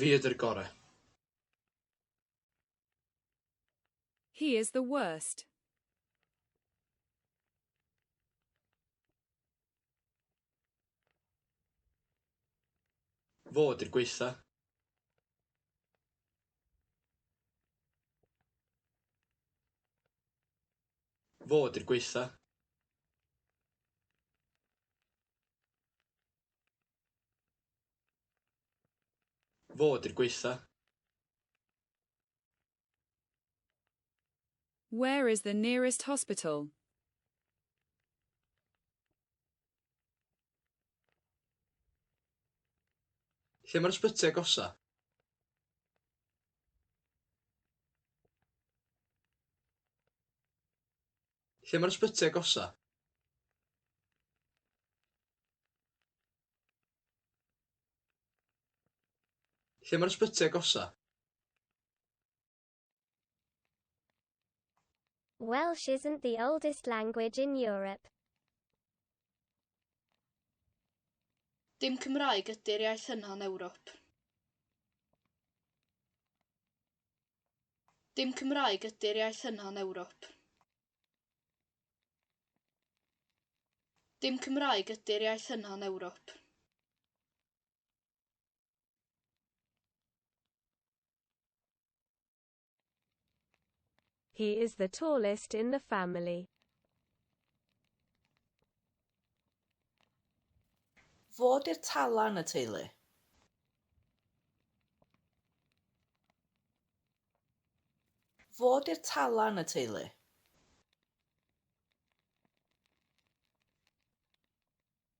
Fi ydy'r gore. He is the worst. Fo ydy'r gwaetha. Fo 'di'r gwaetha. Fo 'di'r gwaetha. Where is the nearest hospital? Lle mae'r ysbyty agosa? Lle mae'r ysbyty agosa? Lle mae'r ysbyty agosa? Welsh isn't the oldest language in Europe. Dim Cymraeg ydy'r iaith yna yn Ewrop. Dim Cymraeg ydy'r iaith yna yn Ewrop. Dim Cymraeg ydy'r iaith yna yn Ewrop. He is the tallest in the family. Fo di'r tala yn y teulu. Fo di'r tala yn y teulu.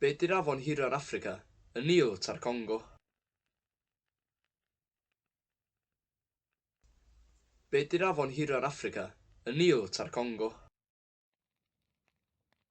Be di'r afon hira'r Affrica? Y Nil ta'r Congo? Be di'r afon hira'r Affrica? Y Nil ta'r Congo?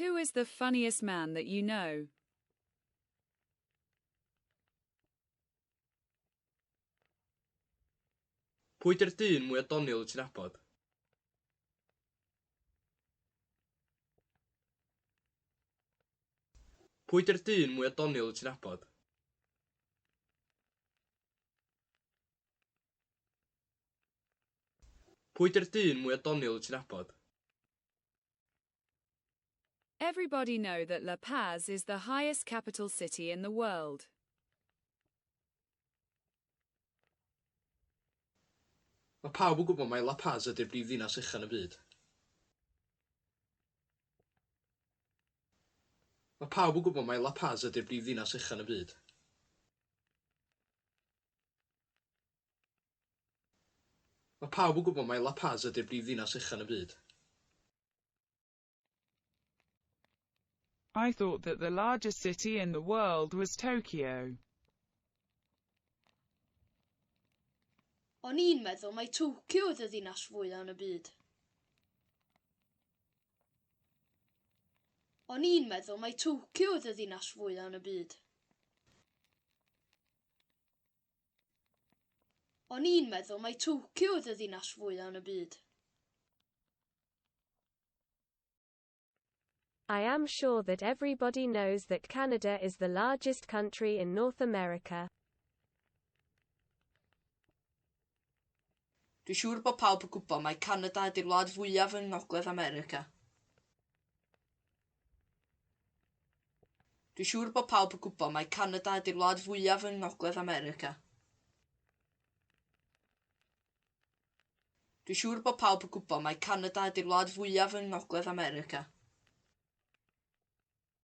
Who is the funniest man that you know? Pwy di'r dyn mwya doniol wyt ti'n abod? Pwy di'r dyn mwya doniol wyt ti'n abod? Pwy di'r dyn mwya doniol wyt ti'n abod? Everybody know that La Paz is the highest capital city in the world. Mae pawb yn gwybod mai La Paz ydy'r brif ddinas uchaf yn y byd. Mae pawb yn gwybod mai La Paz ydy'r brif ddinas uchaf yn y byd. Mae pawb yn gwybod mai La Paz ydy'r brifddinas uchel yn byd. I thought that the largest city in the world was Tokyo. O'n i'n meddwl mai Tokyo oedd y ddinas fwya yn y byd. O'n i'n meddwl mai Tokyo oedd y ddinas fwya yn y byd. O'n i'n meddwl mai Tokyo oedd y ddinas fwyaf yn y byd. I am sure that everybody knows that Canada is the largest country in North America. Dwi'n siŵr bod pawb yn gwybod mai Canada ydy'r wlad fwyaf yng Ngogledd America. Dwi'n siŵr bod pawb yn gwybod mai Canada ydy'r wlad fwyaf yng Ngogledd America. Dwi'n siŵr bod pawb yn gwybod mai Canada ydy'r wlad fwyaf yng Ngogledd America.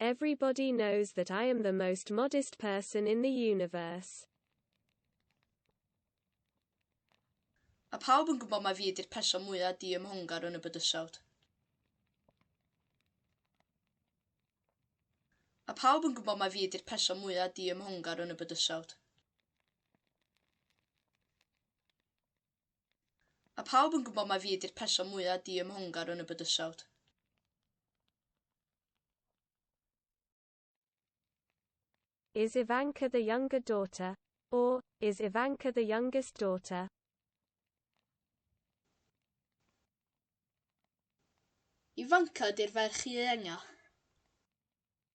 Everybody knows that I am the most modest person in the universe. Mae pawb yn gwybod mai fi ydy'r person mwyaf diymhongar yn y bydysawd. Mae pawb yn gwybod mai fi ydy'r person mwyaf diymhongar yn y bydysawd. Mae pawb yn gwybod mai fi ydy'r person mwyaf diymhongar yn y bydysawd. Is Ivanka the younger daughter? Or, is Ivanka the youngest daughter? Ivanka ydy'r ferch ieuenga.